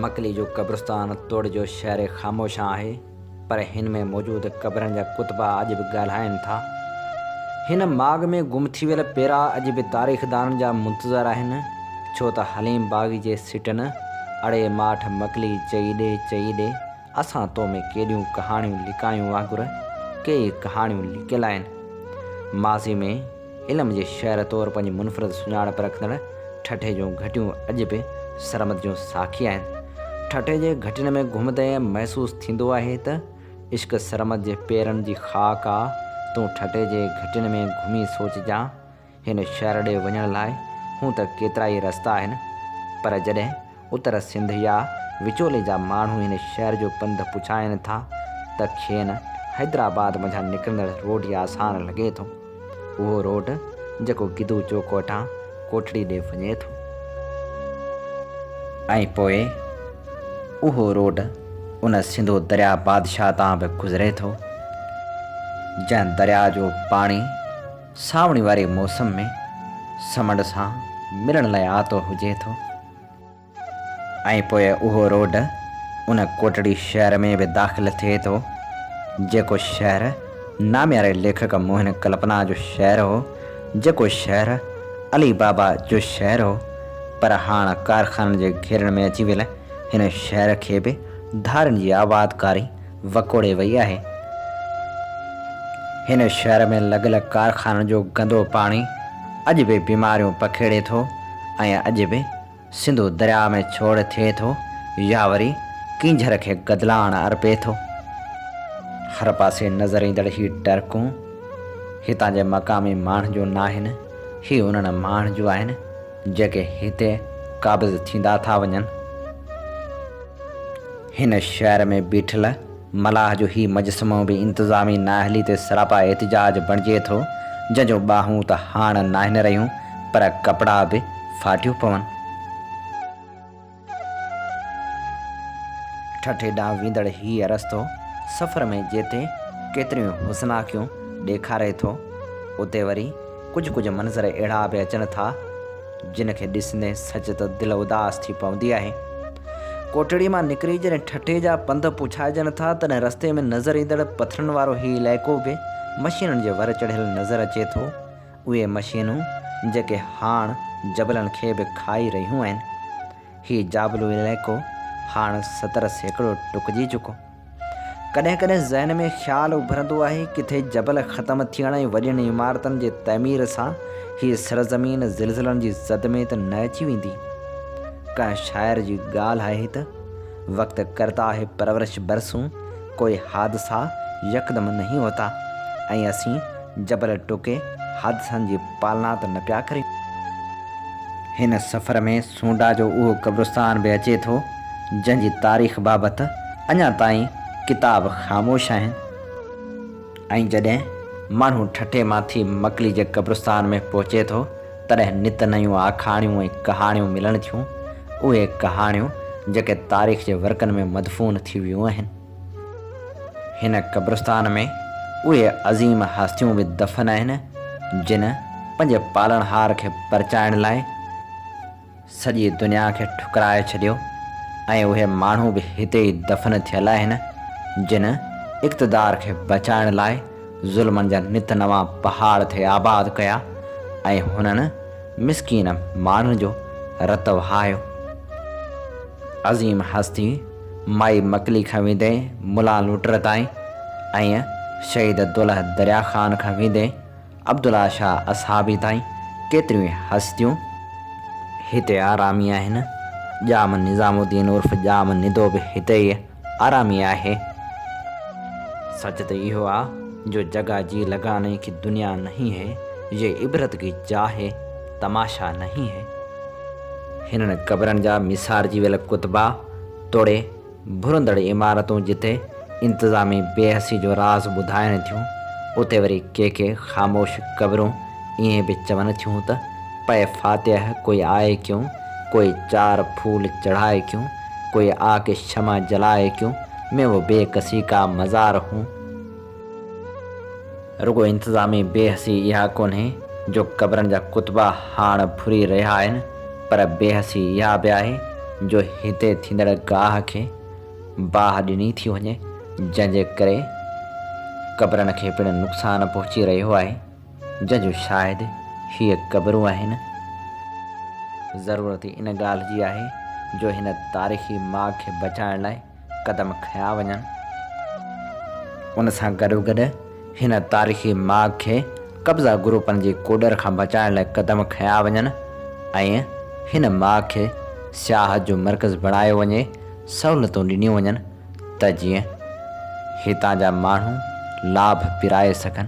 مڪلي جو قبرستان توڙي جو شهر خاموشان آهي پر هن ۾ موجود قبرن جا ڪتبا اڄ به ڳالهائين ٿا. هن ماڳ ۾ گم ٿي ويل پيرا اڄ به تاريخدانن جا منتظر آهن ڇو ته حليم باغي جي سٽن اڙي ماٺ مڪلي چئي ڏي چئي ڏي اسان تو ۾ ڪيڏيون ڪهاڻيون لڪايون وانگر ڪيئي ڪهاڻيون لڪيل آهن. ماضي ۾ علم جي شهر طور پنهنجي منفرد سڃاڻپ رکندڙ ٺٽي جون گهٽيون اڄ به سرمد جون ساکي آهن. ٺٽي جي گهٽين ۾ گهمندي محسوس ٿيندو آهي ته عشق سرمد جي پيرن جي خاڪ آ، تون ٺٽي جي گهٽين ۾ گهمي سوچجان هن شهر ڏي وڃڻ لاء هونء ته ڪيترائي رستا آهن، پر جڏهن اتر سنڌ يا وچولي جا ماڻهو هن شهر جو پنڌ پڇائين ٿا ته کين حيدرآباد منجهان نڪرندڙ روڊ ئي آسان لڳي ٿو. اهو روڊ جيڪو گدو چوڪ وٽان ڪوٺڙي ڏي وڃي ٿو. ۽ پوء اهو روڊ ان سنڌو درياء بادشاهه تان به گذري ٿو، جنهن درياء جو پاڻي، سانوڻي واري موسم ۾ سمنڊ سان ملڻ لاء آتو هجي ٿو ۽ پوء اهو روڊ ان ڪوٽڙي شهر ۾ به داخل ٿئي ٿو، جيڪو شهر نامياري ليکڪ موهن ڪلپنا جو شهر هو، جيڪو شهر علي بابا جو شهر هو، پر هاڻ ڪارخانن جي گهيرن ۾ اچي ويل هن شهر کي به ڌارين جي آبادڪاري وڪوڙي وئي آهي. هن شهر ۾ لڳل ڪارخانن جو گندو پاڻي اڄ به بيماريون پکيڙي ٿو ۽ اڄ به سنڌو درياء ۾ ڇوڙ ٿئي ٿو يا وري ڪينجهر کي گدلاڻ ارپي ٿو. هر پاسي نظر ايندڙ هي ٽرڪون هتان جي مقامي ماڻهن جون ناهن، هي انهن ماڻهن جون آهن جيڪي هتي قابض ٿيندا ٿا وڃن. هن شهر ۾ بيٺل ملاح جو هي مجسمو به انتظامي نااهلي تي سراپا احتجاج بڻجي ٿو، جنهن جون ٻانهون ته هاڻ ناهن رهيون، پر ڪپڙا به ڦاٽيو پون. ٺٽي ڏانهن ويندڙ هيء رستو سفر ۾ جتي ڪيتريون حسناڪيون ڏيکاري ٿو، اتي وري ڪجهه ڪجهه منظر اهڙا به اچن ٿا، جن کي ڏسندي سچ ته دل اداس ٿي پوندي آهي. ڪوٽڙي مان نڪري جڏهن ٺٽي جا پنڌ پڇائجن ٿا، تڏهن رستي ۾ نظر ايندڙ پٿرن وارو هي علائقو به مشينن جي ور چڙهيل نظر اچي ٿو. اهي مشينون جيڪي هاڻ جبلن کي به کائي رهيون آهن. هي جابلو علائقو هاڻ ستر سيڪڙو ٽڪجي چڪو. ڪڏهن ڪڏهن ذهن ۾ خيال اڀرندو آهي، ڪٿي جبل ختم ٿيڻ ۽ وڏين عمارتن جي تعمير سان هيء سرزمين زلزلن جي زد ۾ ته نه اچي ويندي؟ ڪنهن شاعر جي ڳالهه آهي ته، وقت ڪرتا هي پرورش برسون، ڪوئي حادثا يڪدم نهين هوتا ۽ اسين جبل ٽوڪي حادثن جي پالنا ته نه پيا ڪريون. هن سفر ۾ سونڊا جو اهو قبرستان به اچي ٿو، جنهن جي تاريخ بابت اڃا تائين ڪتاب خاموش آهن ۽ جڏهن ماڻهو ٺٽي مان ٿي مڪلي جي قبرستان ۾ پهچي ٿو، تڏهن نت نيون آکاڻيون ۽ ڪهاڻيون ملڻ ٿيون، اهي ڪهاڻيون جيڪي تاريخ جي ورقن ۾ مدفون ٿي ويون آهن. هن قبرستان ۾ اهي عظيم هستيون به دفن آهن، جن پنهنجي پالڻهار کي پرچائڻ لاء سڄي دنيا کي ٺڪرائي ڇڏيو ۽ اهي ماڻهو به هتي ئي دفن ٿيل آهن، جن اقتدار کي بچائڻ لاء ظلمن جا نت نوان پهاڙ ٿي آباد ڪيا ۽ هنن مسڪين ماڻهن جو رت وهايو. عظيم هستي! مائي مڪلي کان ويندي ملا لوٽر تائين ۽ شهيد دولهه دريا خان کان ويندي عبدالله شاهه اصحابي تائين ڪيتريون ئي هستيون هتي آرامي آهن. ڄام نظام الدين عرف ڄام ندو به هتي ئي آرامي آهي. سچ ته اهو آ جو جگا جي لگاني ڪي دنيا نهين هي، يي عبرت ڪي جا هي. تماشا نهين هي. هنن قبرن جا ميسارجي ويل ڪتبا توڙي ڀرندڙ عمارتون جتي انتظامي بي حسي جو راز ٻڌائن ٿيون اتي وري ڪي ڪي خاموش قبرون ائين به چون ٿيون ته پئي فاتح ڪوئي آئي ڪيون ڪوئي چار ڦول چڙهائي ڪيون ڪوئي آڪ شمع جلائي ڪيون ميوو بي ڪسي ڪا مزار هون. رڳو انتظامي بي حسي اها ڪونهي جو قبرن جا ڪتبا هاڻ ڦري رهيا آهن پر بي حسي اها به آهي جو هتي ٿيندڙ گاهه کي باهه ڏني ٿي وڃي جنهن جي ڪري قبرن کي پڻ نقصان پهچي رهيو آهي جنهن جون شاهد هيء قبرون آهن. ضرورت ان ڳالهه جي آهي جو هن تاريخي ماڳ کي بچائڻ لاء قدم کنيا وڃن. ان سان گڏوگڏ هن تاريخي ماڳ کي قبضا گروپن جي ڪوڏر کان بچائڻ لاء قدم کنيا وڃن ۽ هن ماڳ کي سياحت جو مرڪز بڻايو وڃي، سهولتون ڏنيون وڃن ته جيئن هتان جا ماڻهو لاڀ پرائي سگهن.